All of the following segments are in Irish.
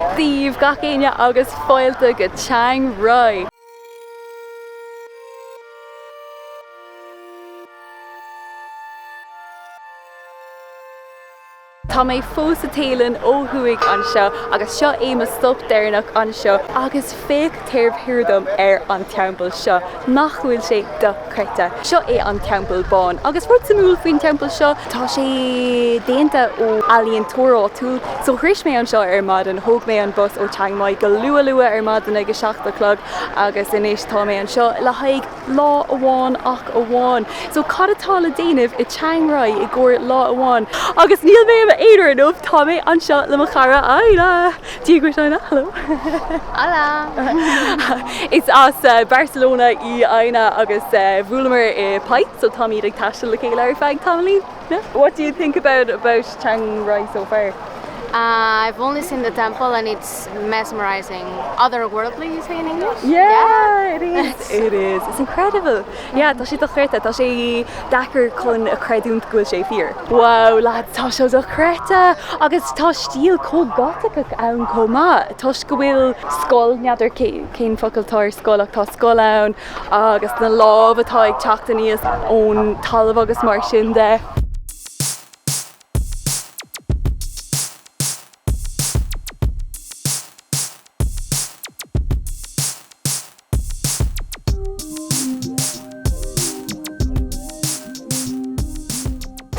Dia dhaoibh gach éinne agus fáilte go Chiang Rai! Tá mé fós sa Téalainn ó thuaidh anseo agus seo é mo stop deireanach anseo agus Féach taobh thiar dom ar an teampall seo. Nach bhfuil sé dochreidte. Seo é an Teampall Bán agus rud suimiúil faoin teampall seo, tá sé déanta ó ealaíontóir áitiúil. So shrois mé anseo ar maidin, thóg mé an bus ó Chiang Mai go luath luath ar maidin ag a seacht a chlog agus anois tá mé anseo le haghaidh lá amháin ach amháin. So cad atá le déanamh i Chiang Rai i gcomhair lá amháin? Agus níl mé i m'aonar inniu, tá mé anseo le mo chara Adhna! Díograis Áine, hello! Hola! Is as Barcelona í Áine agus bhuaileamar i Paidhc so táimid ag taisteal le chéile ar feadh tamaillín. What do you think about about Chiang Rai so far? Uh, I've only seen the temple and it's mesmerizing. Otherworldly, you say in English? Yeah, yeah. it is. it is. It's incredible. Yeah, tá sé dochreidte, tá sé deacair chun a chreidiúint go bhfuil sé fíor. Wow lads, tá sé dochreidte agus tá stíl chomh Gothic ann chomh maith toisc go bhfuil skull, n'fheadar cén focal atá ar skull ach tá skull ann agus na lámh atá ag teacht aníos ón talamh agus mar sin de.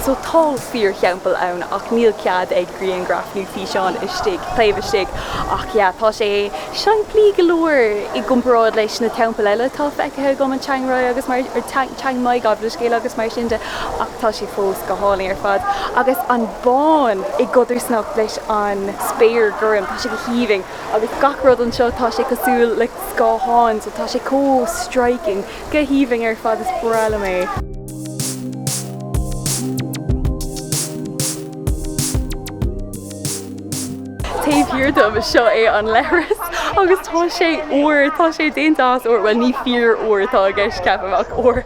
So tá fíor-theampall ann ach níl cead ag griangraf nó físeán istigh, taobh istigh. Ach yeah, tá sé seimplí go leor i gcomparáid leis na teampaill eile atá feicthe agam in Chiang Rai agus mar, or Chiang, Chiang Mai gabh mo leithscéal agus mar sin de. Ach tá sé fós go hálainn ar fad. Agus an bán i gcodarsnacht leis an spéir gorm, tá sé go haoibhinn. agus gach rud anseo, tá sé cosúil le scáthán, so tá sé chomh striking, go haoibhinn ar fad, is breá liom é. Taobh thiar dom, seo é an leithreas agus tá sé ór, tá sé déanta as ór, bhuel ní fíor-ór atá i gceist ceapaim, ach ór.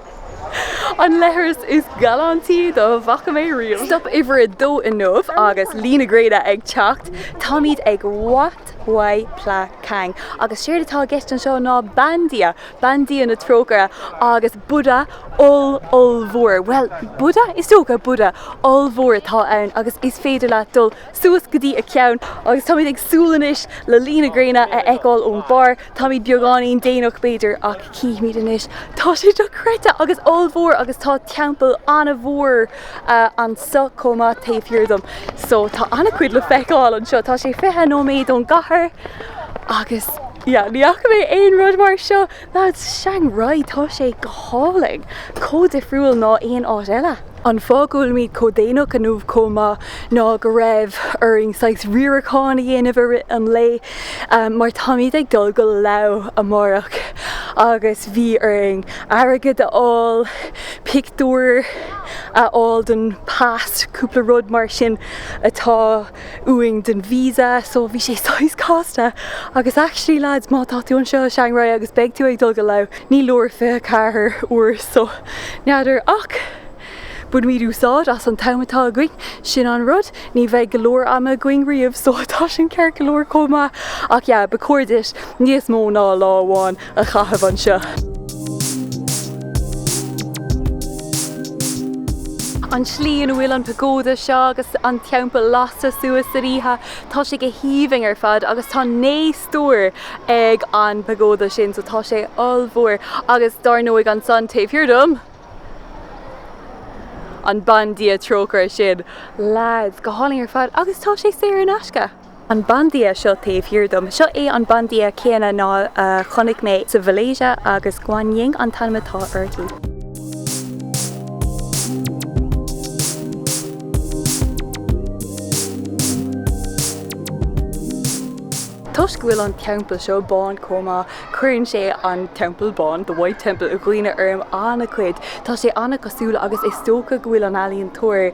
An leithreas is galántaí dá bhfaca mé riamh. Stop uimhir a dó inniu agus luí na gréine ag teacht. Táimid ag Wat Huay Pla Kang agus séard atá i gceist anseo ná bandia, bandia na trócaire agus Buddha oll, ollmhór, bhuel, Buddha? Is dócha, Buddha ollmhór atá ann agus is féidir leat dul suas go dtí a ceann agus táimid ag súil anois le luí na gréine a fheiceáil ón mbarr. Táimid beagáinín déanach b'fhéidir ach cífimid anois. Tá sé dochreidte agus ollmhór agus tá teampall an-mhór anseo chomh maith taobh thiar dom. So tá an-chuid le feiceáil anseo. Tá sé fiche nóiméad ón gcathair agus yeah ní fhaca mé aon rud mar seo Chiang Rai, tá sé go hálainn, chomh difriúil ná aon áit eile. An fáth go bhfuilimid chomh déanach inniu chomh maith ná go raibh orainn saghas riarachán a dhéanamh an lae mar táimid ag dul go Laos amárach agus bhí orainn airgead a fháil, pictiúir a fháil don pas, cúpla rud mar sin atá. uainn den visa so bhí sé saghas casta agus actually lads má tá tú anseo i Chiang Rai agus beidh tú ag dul go Laos ní leor 24 uair so n'fheadar ach bainimid úsáid as an t-am atá againn, sin an rud, ní bheidh go leor ama againn riamh so tá sin ceart go leor chomh maith ach yeah, ba chóir duit níos mó ná lá amháin a chaitheamh anseo. An tslí ina bhfuil an pagóda seo agus an teampall lasta suas san oíche, tá sé go haoibhinn ar fad agus tá naoi stór ag an bpagóda sin so tá sé ollmhór agus dar ndóigh ansan taobh thiar dom, an bandia trócaire sin. Leaids, go hálainn ar fad agus tá sé saor in aisce! An bandia seo taobh thiar dom, seo é an bandia céanna ná chonaic mé sa Mhalaesia agus Guan Yin an t-ainm atá uirthi. Toisc go bhfuil an teampall seo bán chomh maith, cuireann sé an Teampall Bán, The White Temple, i gcuimhne orm an-chuid. Tá sé an-chosúil agus is dócha go bhfuil an ealaíontóir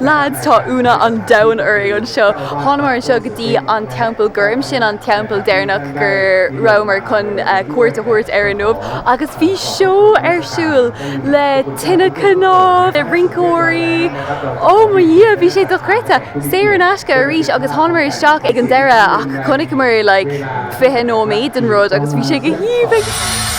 Lads, tá ionadh an domhain orainn anseo. Thánamar anseo go dtí an Teampall Gorm, sin an teampall deireanach gur rabhamar chun cuairt a thabhairt air inniu agus bhí seó ar siúl le tine chnámh, le rinceoirí, Ó mo Dhia, bhí sé dochreidte! Saor in aisce arís agus thánamar isteach ag an deireadh ach chonaiceamar like fiche nóiméad den rud agus bhí sé go haoibhinn!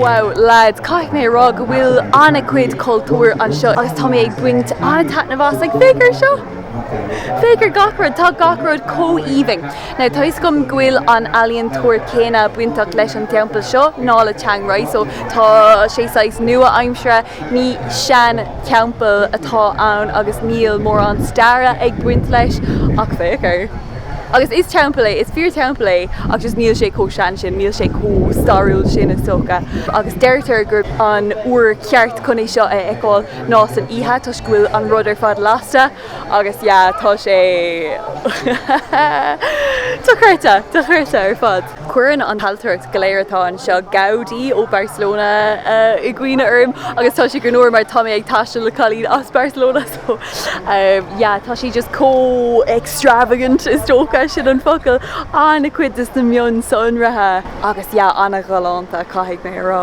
Wow lads, caithfidh mé a rá go bhfuil an-chuid cultúir anseo agus tá mé ag baint an-taitneamh as ag feiceáil seo! Féach ar gach rud, tá gach rud chomh haoibhinn. Now, tá 'fhios agam go bhfuil an ealaíontóir céanna bainteach leis an teampall seo, ná le Chiang Rai, so tá sé saghas nua aimsire, ní sean theampall atá ann agus níl mórán staire ag baint leis, ach féach air. Agus is teampall é, is fíor teampall é, ach just níl sé chomh sean sin, níl sé chomh stairiúil sin is dócha. Agus deirtear gurb an uair ceart chun é seo a fheiceáil. nó san oíche toisc go bhfuil an rud ar fad lasta agus yeah tá sé dochreidte, dochreidte ar fad. Cuireann an hailtireacht go léir atá anseo, Gaudí ó Barcelona i gcuimhne orm agus tá sé greannmhar mar tá mé ag taisteal le cailín as Barcelona so yeah tá sí just chomh extravagant is dócha sin an focal, an-chuid de sna mionsonraithe agus yeah an-ghalánta caithfidh mé a rá.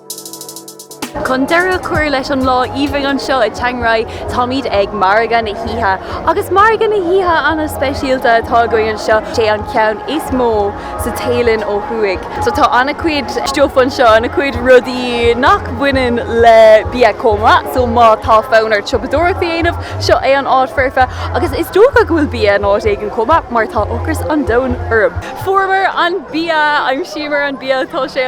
Chun deireadh a chur leis an lá aoibhinn seo i Chiang Rai táimid ag margadh na hoíche. Agus margadh na hoíche ana speisialta atá againn anseo. Sé an ceann is mó sa Téalainn ó thuaidh. So tá ana cuid stuff anseo, ana cuid rudaí nach mbaineann le bia chomh maith. So má tá fonn ort siopadóireacht a dhéanamh, seo é an áit foirfe. Agus is dócha go bhfuil bia in áit éigin chomh maith mar tá ocras an domhain orm. Fuaireamar an bia! D'aimsíomar an bia! Tá sé.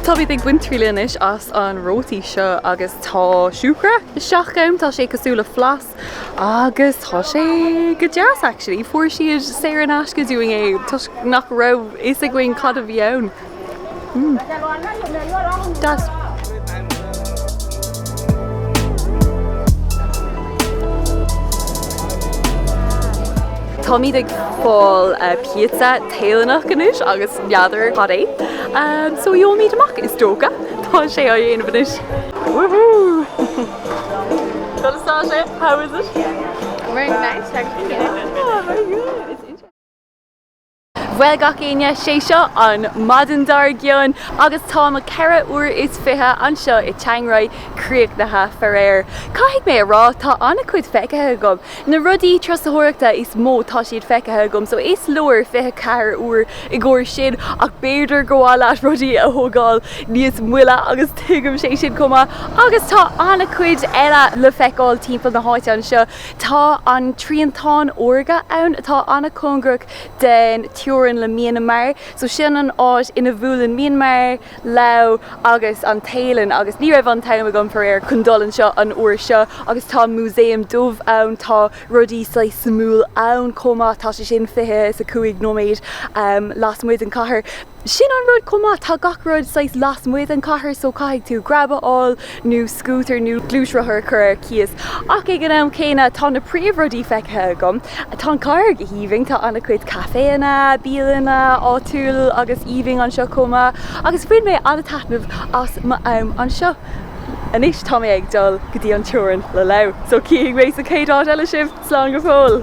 Táimid ag baint triail anois as an rótaí seo agus tá siúcra isteach ann, tá sé cosúil le flas agus tá sé go deas actually. Fuair siad saor in aisce dúinn é toisc nach raibh fhios againn cad a bhí ann. Mm. Deas. Táimid ag fáil eh, pizza Téalannach anois agus n'fheadar cad é. So gheobhaimid amach is dócha. Tá sé á dhéanamh anois. Woohoo! Got a start yet? How is it? Yeah. Very nice actually, yeah. Oh very good. It's interesting. Bhuel gach éinne, sé seo an maidin dár gcionn agus tá mo 4 uair is 20 anseo i Chiang Rai críochnaithe. Faraor, caithfidh mé a rá, tá an-chuid feicthe agam Na rudaí turasóireachta is mó tá siad feicthe agam so is leor 24 uair i gcomhair sin ach b'fhéidir gur mhaith leat rudaí a thógáil níos moille agus tuigimse sin chomh maith agus tá an-chuid eile le feiceáil timpeall na háite anseo. Tá an triantán órga ann atá an-chóngarach den teorainn le Mianmar so sin an áit ina bhuaileann Mianmar, Laos agus an Téalainn agus ní raibh an t-am agam, faraor, chun dul ann an uair seo agus tá an músaem dubh ann, tá rudaí saghas suimiúil ann chomh maith, tá sé sin fiche is a cúig nóiméad lasmuigh den chathair. Sin an rud chomh maith, tá gach rud saghas lasmuigh den chathair so caithfidh tú grab a fháil, nó scútar nó gluaisrothar a chur ar cíos. Ach ag an am céanna tá na príomhrudaí feicthe agam. Tá an chathair go haoibhinn, tá an-chuid caiféanna, bialanna áitiúil agus aoibhinn anseo chomh maith agus bhain mé an-taitneamh as m'am anseo. Anois tá mé ag dul go dtí an teorainn le Laos, so chífidh mé sa chéad áit eile sibh! Slán go fóill!